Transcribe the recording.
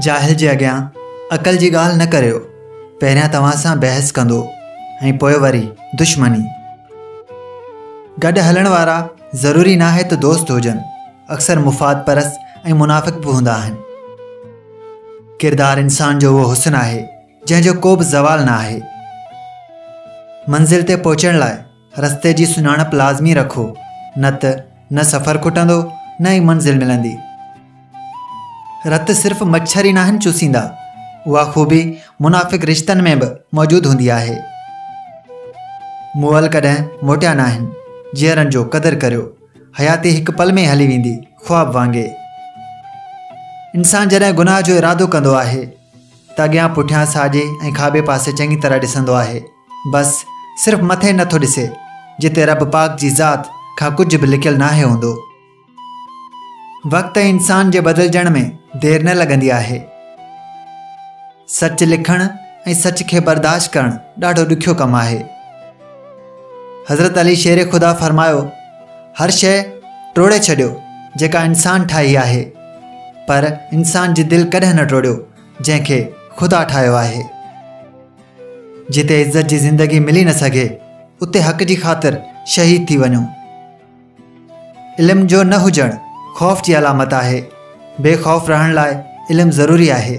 جاهل جي اڳيان عقل جي ڳالهه نه ڪريو پهريان توهان سان بحث ڪندو ۽ پوء وري دشمني گڏ هلڻ وارا ضروري نه آهي ته دوست هجن اڪثر مفاد پرست ۽ منافق به هوندا آهن ڪردار انسان جو اهو حسن آهي جنهن جو ڪو به زوال نه آهي. منزل تي پهچڻ لاء رستي جي سڃاڻپ لازمي رکو نه ته نه سفر کٽندو نه ئي منزل ملندي. رت صرف مڇر ئي ناهن چوسيندا، اها خوبي منافق رشتن ۾ به موجود هوندي آهي. موئل ڪڏهن موٽيا ناهن، جيئرن جو قدر ڪريو، حياتي هڪ پل ۾ هلي ويندي خواب وانگي. انسان جڏهن گناهه جو ارادو ڪندو آهي، ته اڳيان پٺيان ساڄي ۽ کاٻي پاسي چڱي طرح ڏسندو آهي بس صرف مٿي نه ٿو ڏسي جتي رب پاڪ جي ذات کان ڪجهه به لڪيل ناهي هوندو. وقت ۽ انسان جي بدلجڻ ۾ دير نه لڳندي آهي. سچ لکڻ ۽ سچ کي برداشت ڪرڻ ڏاڍو ڏکيو ڪم آهي. حضرت علي شير خدا فرمايو هر شيء ٽوڙي ڇڏيو جيڪا انسان ٺاهي آهي پر انسان جي دل ڪڏهن نه ٽوڙيو جنهن کي خدا ٺاهيو آهي جتي عزت جي زندگي ملي نه سگهي اتي حق جي خاطر شهيد ٿي وڃو علم جو نه هجڻ خوف جي علامت آهي. بي خوف رهڻ لاء علم ضروري آهي.